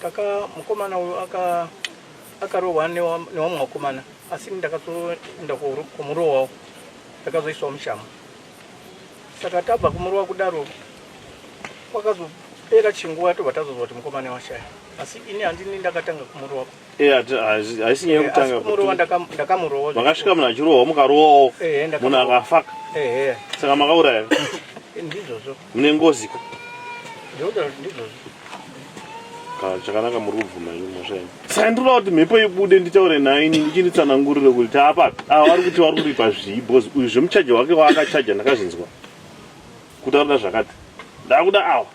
kaka mukomana uyu aka akarohwa newamwe vakomana asi ndakazoenda kumurohwawo ndakazoiswa mushamo saka tabva kumurohwa kudaro kwakazopera chinguva tobva tazozwa kuti mukomana washaya asi ini handini ndakatanga kumurohwa Eh, hati- haisi haisi nyaya Eh, asi yekutanga kumurowa kuti- ndakam- ndakamurowa makasvika munhu achirohwa mukarowawo Eh, ndakamurohwa. munhu akafaka ehe saka makauraya ndizvozvo mune ngozi ko ndikutaura kuti ndizvozvo Ka- chakanaka muri kubvuma ini mhosva ino saka ndinoda kuti mhepo ibude nditaure nayo ini ndichinditsanangurire kuti taapapi ava vari kuti vari kuripa zvii bhozi uyu zvemuchaji wake waakachaja ndakazvinzwa kutaura zvakati ndakuda awa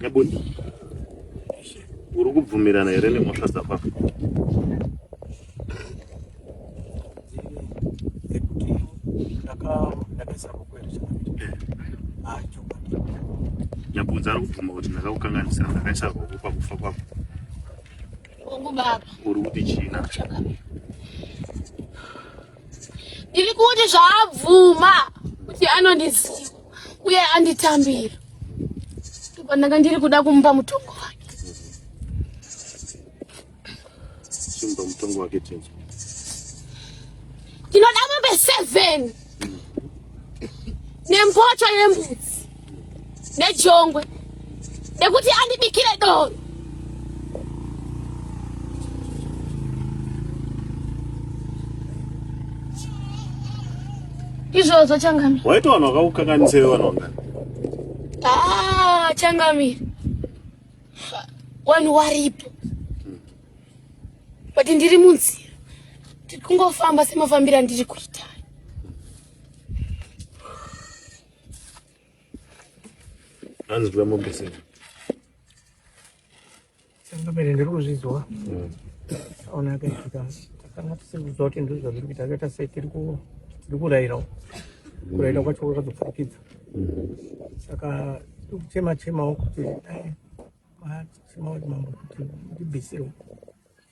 Nebudi. Uri kubvumirana here nemhosva dzako apa? Nyabunza ari kubvuma kuti ndakakukanganisira ndakaisa ruoko pakufa kwako. Uri kuti china. ndiri kuti zvaabvuma kuti anondiziva uye anditambira ndopandanga ndiri kuda kumupa mutongo wake chimupa mutongo wake tenzi ndinoda mombe seven nempoto yembudzi nejongwe nekuti andibikire doro izvozvo changamire waita vanhu vakakukanganisa iwe vanhu vangani ah, changamire vanhu waripo but ndiri munzira tiri kungofamba semafambira ndiri kuita Hanzi kuda mombe sei? Sanga mene ndiri kuzviziwa. Mm. Ona akaita. Takanga tisiri kuziva kuti ndizvo zvazviri kuita. Akaita sei tiri ku tiri kurayirawo. Kurayira kwacho kwakazopfurikidza. Mm. Saka tiri kuchema chemawo kuti dai machemawo kuti mambo kuti ndibvisirwe.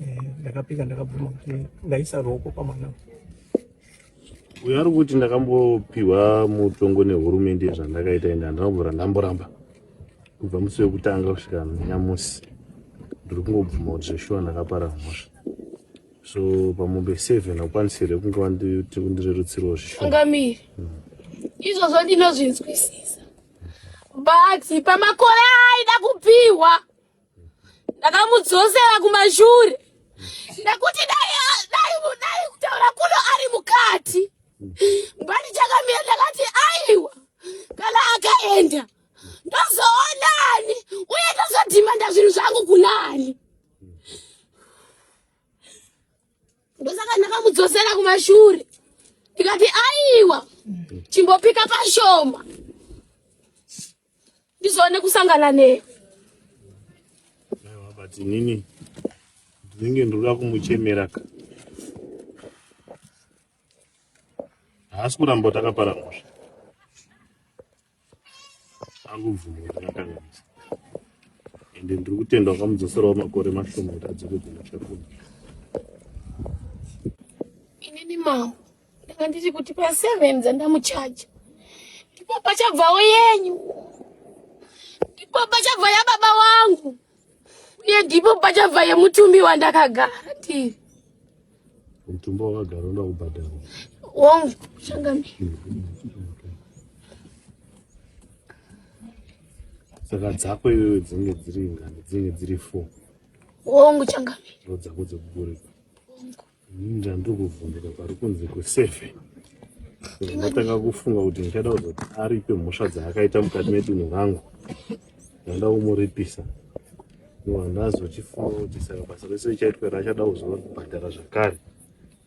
Eh, ndakapika ndakabvuma kuti ndaisa ruoko pamwana uyo ari kuti ndakambopiwa mutongo nehurumende zvandakaita ende handina kubvura ndamboramba kubva musi wekutanga kusvika nyamusi ndiri kungobvuma kuti zveshuwa ndakapara mhosva so pamombe seven akwanisire kunge wandirerutsirwa zveshuangamiri hmm. izvozvo ndinozvinzwisisa but pamakore aida kupiwa ndakamudzosera kumashure nekuti dai dai dai kutaura kuno ari mukati mbani chakamira ndakati aiwa kana akaenda ndozoonani uye ndozodhimanda zvinhu zvangu kunani ndosaka ndakamudzosera kumashure ndikati aiwa chimbopika pashoma ndizoone kusangana newe but inini ndinenge ndoda kumuchemera ka haasi kuramba kuti akapara mhosva akubvuma kuti akakanganisa ende ndiri kutenda wakamudzoserawo makore mashoma kuti adzokedzera chakuno inini mao ndanga ndiri kuti pa seven dzandamuchaja ndipo pachabvawo yenyu ndipo pachabva yababa wangu uye ndipo pachabva yemutumbi wandakagara ndiri mutumbi wakagara unoda kubhadhara wongu shangami saka dzako iwewe dzinenge dziri ngani dzinenge dziri four wongu changami ndo dzako dzekugurika Ini ndandiri kuvhunduka pari kunzi kuseve ndatanga kufunga kuti ndichada kuzoti aripe mhosva dzaakaita mukati medunhu rangu ndanda kumuripisa handazochifunga kuti saka basa rese richaitwa rachada kuzobhadhara zvakare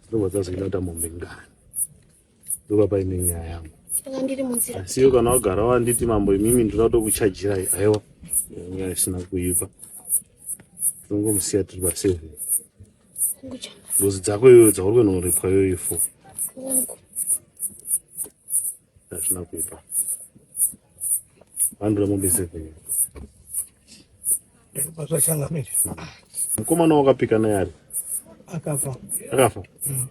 dzinobva dzazoita kuti amombe ngani ndopa paine nyaya yangu saka ndiri munzira asi iwe kana wagara wanditi mambo imimi ndinoda kutokuchajirai aiwa nyaya isina kuipa tinongomusiya tiri paseven ngozi dzako iyoyo dzauri kunoripwa iyoyo fo hazvina kuipa vandura mombe seven ndopazvachangamira mukomana wakapika naye ari akafa akafa mm.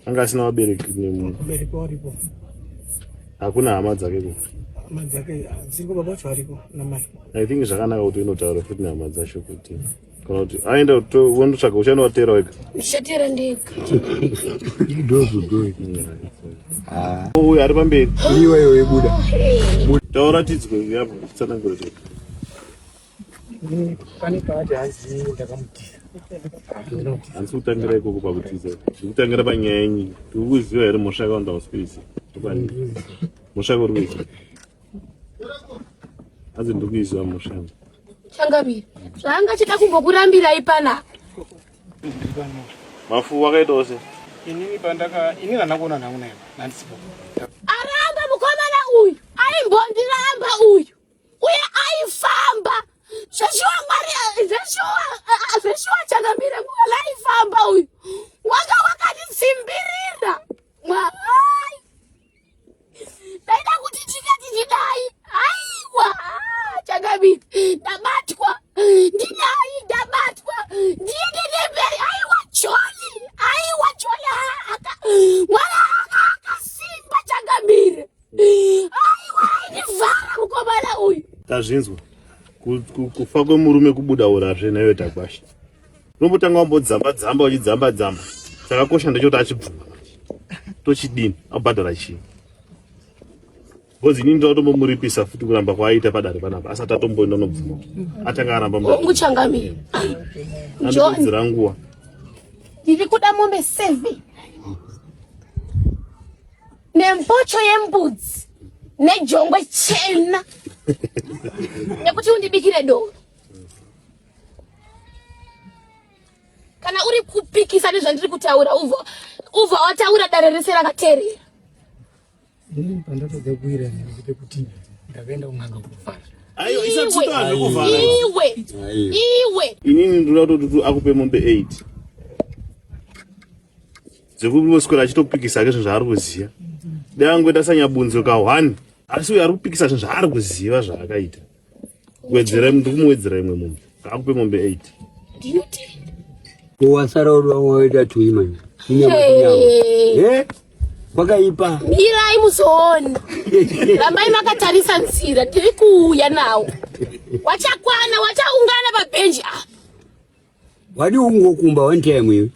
anga asina vabereki nemubereki waripo hakuna hama dzake ku hama dzake dziriko baba vacho variko namai i think zvakanaka kuti unotaura futi nehama dzacho kuti kana kuti aenda wondotsvaga uchano wateera wega ndichateera ndega uyo ari pamberi iweyo yebuda taura tidzwe yapo tsanangura chete pane paati hanzi ndakamutisa hanzi kutangira ikoko pakutiza ndikutangira panyaya yenyi ndikukuziva here mhosva yako ndausipiisa mhosva yako uri kuiziva hanzi ndikuiziva mhosva yangu Changamire. Zvanga chida kumbokurambirai pana. Mafu wakaita ose. Inini pandaka ini kana kuona nangu naye. Nandisipo. Aramba mukomana uyu. Aimbondiramba uyu. Uye aifamba. Zveshuwa Mwari zveshuwa zveshuwa changamire nguva laifamba uyu. Wanga wakanitsimbirira. Mwari. ndaida kuti tinge tichidai aiwa chakabi ndabatwa ndidai ndabatwa ndiende nemberi aiwa joli aiwa joli aka mwana aka akasimba chakabire aiwa aindivhara mukomana uyu tazvinzwa kufa kwemurume kubuda urazve naiwe tagwasha unombotanga wambodzamba dzamba uchidzamba dzamba chakakosha ndechoti achibvuma tochidini abhadhara chii because ini ndinotombomuripisa futi kuramba kwaaita padare panapa asati atomboenda unobvuma atanga aramba uchangamira andipedzera nguva ndiri kuda mombe seven nembocho yembudzi nejongwe chena nekuti undibikire doro kana uri kupikisa nezvandiri kutaura uvo uvo wataura dare rese rakaterera ini pandatoda kuira nekuti kuti ndakaenda kun'anga kufara ayo isatutana kuvara iwe iwe inini ndoda kutotutu akupe mombe 8 dzekuvoswera achitopikisa ke zvinhu zvaari kuziva dai angoita sanyabunzo ka 1 asi uyo ari kupikisa zvinhu zvaari kuziva zvaakaita wedzera ndikumuwedzera imwe mombe akupe mombe 8 ndinoti wasara uri wamwe waita tui manje inyama inyama eh kwakaipa mirai muzoona rambai makatarisa nzira tiri kuuya nawo wachakwana wachaungana pabhenji apa Wadi ungokumba one time iwe.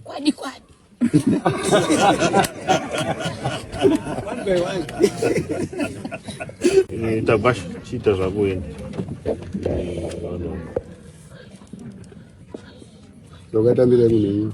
Kwadi kwadi. One by one. Ni tabash chita za kuenda. Lokata mbele mimi.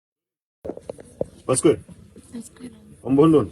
Pasquale. Pasquale. Ombondon.